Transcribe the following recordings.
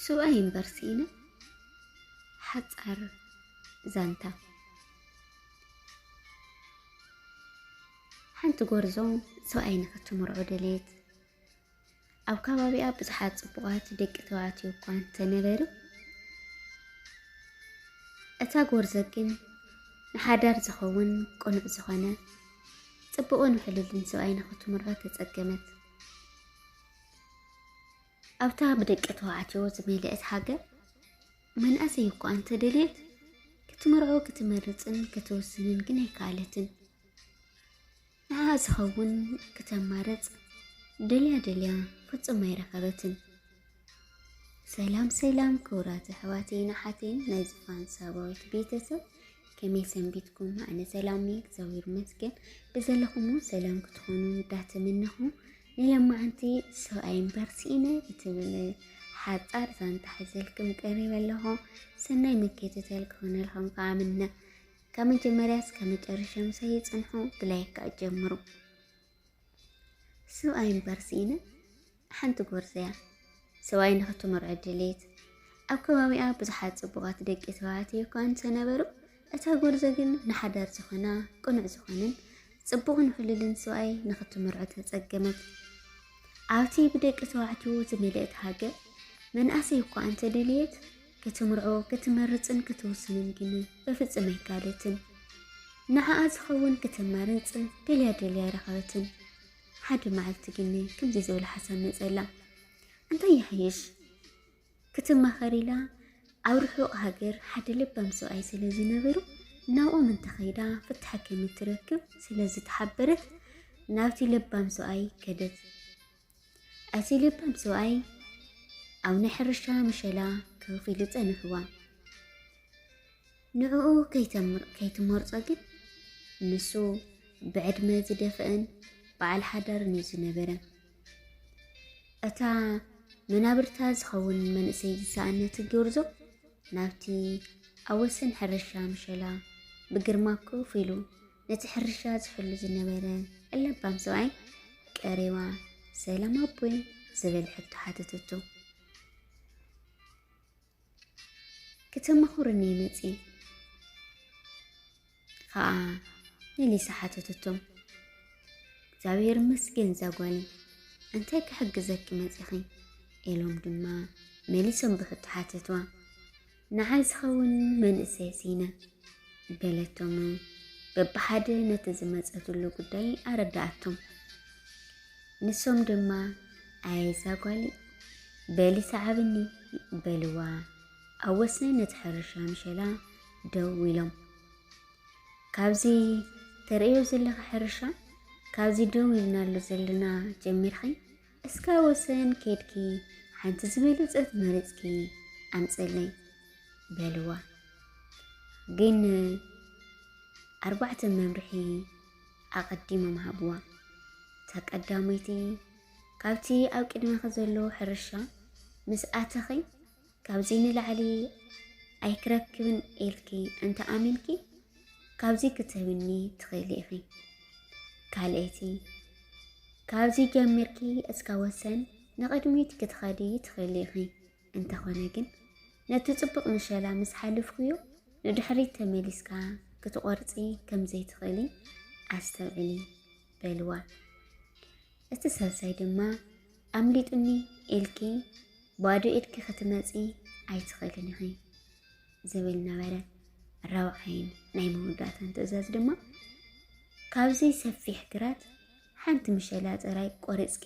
ስዋ ዩኒቨርሲቲን ሓፃር ዛንታ ሓንቲ ጎርዞ ሰብኣይ ንክትምርዖ ደልየት ኣብ ከባቢኣ ብዙሓት ጽቡቓት ደቂ ተባዕትዮ እኳ እንተነበሩ እታ ጎርዞ ግን ንሓዳር ዝኸውን ቅኑዕ ዝኾነ ጽቡቕን ውሕልልን ሰብኣይ ንኽትምሮ ተጸገመት። ኣብታ ብደቂ ተባዕትዮ ዝመልአት ሃገር መንእሰይ እኳ እንተደልየት ክትምርዖ ክትመርፅን ክትውስንን ግን ኣይከኣለትን። ንዓኣ ዝኸውን ክተማርጽ ደልያ ደልያ ፍጹም ኣይረኸበትን። ሰላም ሰላም ክቡራት ኣሕዋተይን ኣሓተይን ናይ ዝፋን ሳባዊት ቤተሰብ ከመይ ሰንቢትኩም? ኣነ ሰላም እየ እግዚኣብሔር ይመስገን። ብዘለኹም እውን ሰላም ክትኾኑ እንዳተመነኹ ንለማዓንቲ ሰብኣይ እምበር ስኢነ እትብል ሓጻር ዛንታ ሕዘልክም ቀሪበ ኣለኹ። ሰናይ ምክትታል ክኾነልኩም ከዓ ምነ ካብ መጀመርያ እስከ መጨረሻ ምሳይ ጽንሑ ብላይክ ከዓ ጀምሩ ሰብኣይ እምበር ስኢነ ሓንቲ ጎርዘያ ሰብኣይ ንክትምርዖ ድሌት ኣብ ከባቢኣ ብዙሓት ጽቡቓት ደቂ ተባዕትዮ እኳ እንተነበሩ እታ ጎርዞ ግን ንሓዳር ዝኾና ቅኑዕ ዝኾንን ጽቡቕን ውሕሉልን ሰብኣይ ንክትምርዖ ተጸገመት። ኣብቲ ብደቂ ተባዕትዮ ዝመልእት ሃገር መንእሰይ እኳ እንተደልየት ክትምርዖ ክትመርፅን ክትውስንን ግን በፍፅም ኣይከኣለትን። ንዓኣ ዝኸውን ክተማርፅ ደልያ ደልያ ኣይረኸበትን። ሓደ መዓልቲ ግን ከምዚ ዝበለ ሓሳብ መፀላ። እንታይ ይሓይሽ ክትማኸር ኢላ ኣብ ርሑቕ ሃገር ሓደ ለባም ሰብኣይ ስለ ዝነበሩ ናብኦም እንተኸይዳ ፍታሕ ከምትረክብ ስለ ዝተሓበረት ናብቲ ለባም ሰብኣይ ከደት። ኣዚ ልባም ሰብኣይ ኣብ ናይ ሕርሻ ምሸላ ክኽ ኢሉ ጸንሕዋ። ንዕኡ ከይትመርጾ ግን ንሱ ብዕድመ ዝደፍአን በዓል ሓዳርን እዩ ዝነበረ እታ መናብርታ ዝኸውን መንእሰይ ዝሰኣነት ጎርዞ ናብቲ ኣብ ወሰን ሕርሻ ምሸላ ብግርማ ኮፍ ኢሉ ነቲ ሕርሻ ዝሕሉ ዝነበረ ለባም ሰብኣይ ቀሪባ ሰላም ኣቦይ ዝብል ሕቶ ሓተተቶ። ክተማኽሩኒ መፂ ከዓ መሊሳ ሓተተቶ። እግዚኣብሔር ይመስገን ዛጓሊ እንታይ ክሕግዘኪ መፂኺ ኢሎም ድማ መሊሶም ብሕቶ ሓተትዋ። ንዓይ ዝኸውን መንእሰይ ሲነ በለቶም። በብሓደ ነቲ ዝመፀትሉ ጉዳይ ኣረዳኣቶም። ንሶም ድማ ኣየዛ ጓሊ በሊ ሰዓብኒ በልዋ። ኣብ ወሰን ነቲ ሕርሻ ምሸላ ደው ኢሎም ካብዚ ተርእዮ ዘለኻ ሕርሻ ካብዚ ደው ኢልናሉ ዘለና ጀሚርኺ እስከ ወሰን ኬድኪ ሓንቲ ዝበለጸት መሪጽኪ ኣምጽለይ በልዋ። ግን ኣርባዕተ መምርሒ ኣቐዲሞም ሃብዋ። እታ ቀዳመይቲ ካብቲ ኣብ ቅድመኺ ዘሎ ሕርሻ ምስ ኣተኺ ካብዚ ንላዕሊ ኣይክረክብን ኢልኪ እንተ ኣሚንኪ ካብዚ ክትህብኒ ትኽእሊ ኢኺ። ካልኣይቲ ካብዚ ጀሚርኪ እስካ ወሰን ንቕድሚት ክትኸዲ ትኽእሊ ኢኺ። እንተኾነ ግን ነቲ ጽቡቕ ምሸላ ምስ ሓልፍኩዮ ንድሕሪት ተመሊስካ ክትቆርጺ ከምዘይትኽእሊ ኣስተውዕሊ። በልዋ። እቲ ሳልሳይ ድማ ኣምሊጡኒ ኢልኪ ባዶ ኢድኪ ክትመፂ ኣይትኽእልን ኢኺ ዝብል ነበረ። ራብዓይን ናይ መወዳእታን ትእዛዝ ድማ ካብዚ ሰፊሕ ግራት ሓንቲ ምሸላ ጥራይ ቆሪፅኪ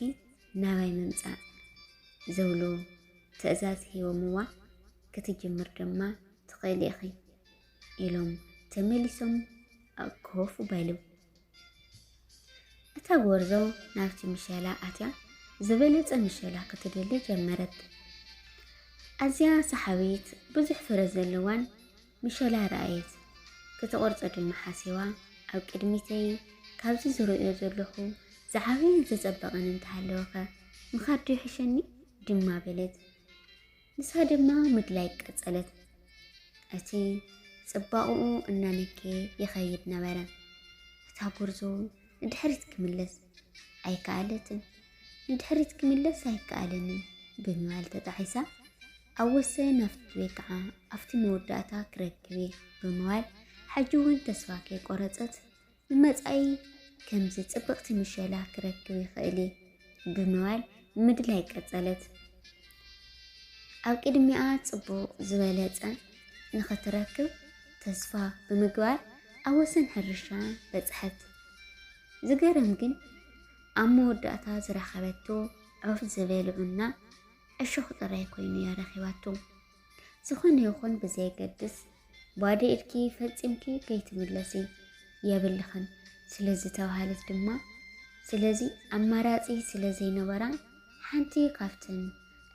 ናባይ ምምፃእ ዝብሉ ትእዛዝ ሂቦምዋ ክትጅምር ድማ ትኽእሊ ኢኺ ኢሎም ተመሊሶም ኮፍ በሉ። እታ ጎርዞ ናብቲ ምሸላ ኣትያ ዝበለጸ ምሸላ ክትደሊ ጀመረት። ኣዝያ ሰሓቢት ብዙሕ ፍረ ዘለዋን ምሸላ ረኣየት። ክትቆርጾ ድማ ሓሲባ ኣብ ቅድሚተይ ካብዚ ዝርእዮ ዘለኹ ዝዓበየን ዝጸበቐን እንተሃለወኸ ምኻድ ዶ ይሕሸኒ ድማ በለት። ንሳ ድማ ምድላይ ቀጸለት። እቲ ጽባቕኡ እናነከየ ይኸይድ ነበረ። እታ ጉርዞ ንድሕሪት ክምለስ ኣይከኣለትን። ንድሕሪት ክምለስ ኣይከኣለንን ብምባል ተጣሒሳ ኣብ ወሰን ኣብቲ ወይ ከዓ ኣብቲ መወዳእታ ክረክብ እየ ብምባል ሕጂ እውን ተስፋ ከይቆረጸት ንመጻኢ ከምዚ ጽብቕቲ ምሸላ ክረክብ ይኽእል እየ ብምባል ምድላይ ቀጸለት። ኣብ ቅድሚኣ ጽቡቕ ዝበለጸ ንኽትረክብ ተስፋ ብምግባር ኣብ ወሰን ሕርሻ በጽሐት። ዝገርም ግን ኣብ መወዳእታ ዝረኸበቶ ዑፍ ዝበልዑና ዕሾኽ ጥራይ ኮይኑ እያ ረኺባቶ። ዝኾነ ይኹን ብዘየገድስ ባዶ ኢድኪ ፈጺምኪ ከይትምለሲ የብልኽን ስለ ዝተባሃለት ድማ ስለዚ ኣማራጺ ስለ ዘይነበራ ሓንቲ ካብተን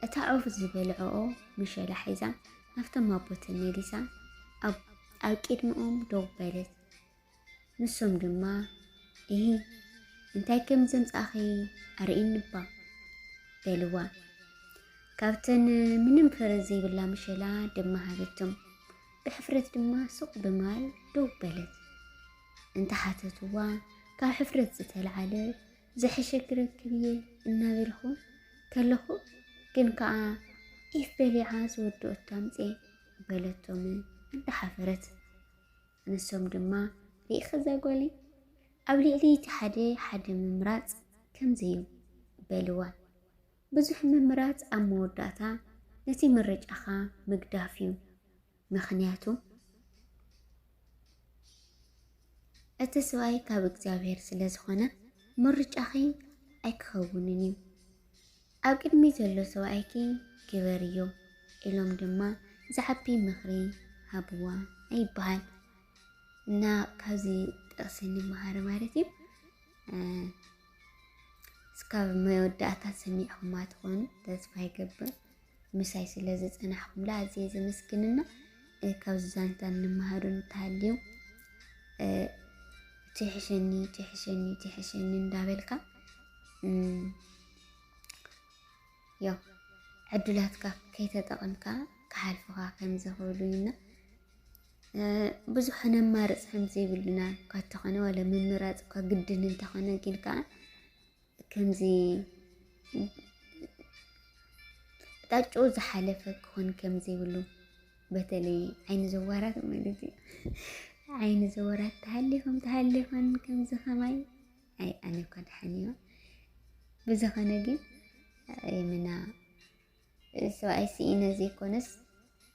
እታ ዑፍ ዝበልዐኦ ምሸላ ሒዛ ናብቶም ኣቦተን መሊሳ ኣብ ቅድሚኦም ደው በለት። ንሶም ድማ እሂ እንታይ ከም ዘምጻኺ ኣርእይኒባ በልዋ። ካብተን ምንም ፍረ ዘይብላ ምሸላ ድማ ሃበቶም። ብሕፍረት ድማ ሱቕ ብማል ደው በለት። እንተሓተትዋ ካብ ሕፍረት ዝተልዓለ ዝሐሸ ክረክብ እየ እናበልኹ ከለኹ ግን ከዓ ኢፍ በሊዓ ዝወድኦ ታምፄ በለቶም እንዳሓፈረት ንሶም ድማ ርኢኺ ዘጎሊ ኣብ ልዕሊ እቲ ሓደ ሓደ ምምራጽ ከምዚ እዩ በልዋ ብዙሕ ምምራጽ ኣብ መወዳእታ ነቲ ምርጫኻ ምግዳፍ እዩ ምኽንያቱ እቲ ሰብኣይ ካብ እግዚኣብሔር ስለ ዝኾነ ምርጫኺ ኣይክኸውንን እዩ ኣብ ቅድሚ ዘሎ ሰብኣይኪ ግበርዮ ኢሎም ድማ ዝዓቢ ምኽሪ ሃብዋ ይበሃል እና ካብዚ ጥቕሲ ንመሃር ማለት እዩ። እስካብ መወዳእታ ሰሚዕኹማ ትኾኑ ተስፋ ይገብር። ምሳይ ስለ ዝፀናሕኩምላ ኣዝየ ዘመስግንና ካብዚ ዛንታ እንመሃሩ እንተሃልዩ ትሕሸኒ ትሕሸኒ ትሕሸኒ እንዳበልካ ያው ዕድላትካ ከይተጠቐምካ ክሓልፉኻ ከም ዘኽእሉና ብዙሕ ነማርፅ ከም ዘይብልና እኳ እንተኾነ ዋላ ምምራፅ እኳ ግድን እንተኾነ ግን ከዓ ከምዚ ጣጭኡ ዝሓለፈ ክኾን ከም ዘይብሉ በተለይ ዓይኒ ዘዋራት ማለት እዩ ዓይኒ ዘዋራት ተሃሊፎም ተሃሊፎም ከምዚ ከማይ ኣይ ኣነ እኳ ደሓን እየ ብዝኸነ ግን የምና ሰብኣይ ስኢነ ዘይኮነስ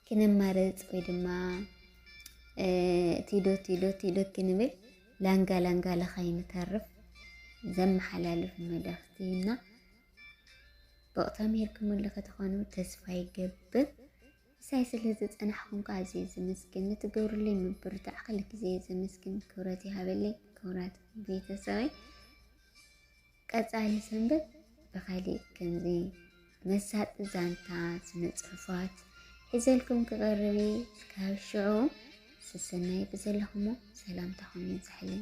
ክንማረፅ ወይ ድማ ቲዶ ቲዶ ቲዶ ክንብል ላንጋ ላንጋ ለኸይንተርፍ ዘመሓላልፍ መልእኽቲ እና ብቕታ ምሄርክምሉ ከተኾኑ ተስፋ ይገብር። ምሳይ ስለ ዝጸናሕኩም ከኣ ኣዝየ ዘመስግን። ንትገብሩለይ ምብርታዕ ክል ግዜ ዘመስግን። ክብረት ይሃበለይ ክቡራት ቤተሰበይ። ቀጻሊ ሰንበት ብኻሊእ ከምዚ መሳጢ ዛንታ ስነ ጽሑፋት ሒዘልኩም ክቐርብ እየ። እስካብ ሽዑ ሰሰናይ ብዘለኹሞ ሰላምታኹም ይብዛሕለይ።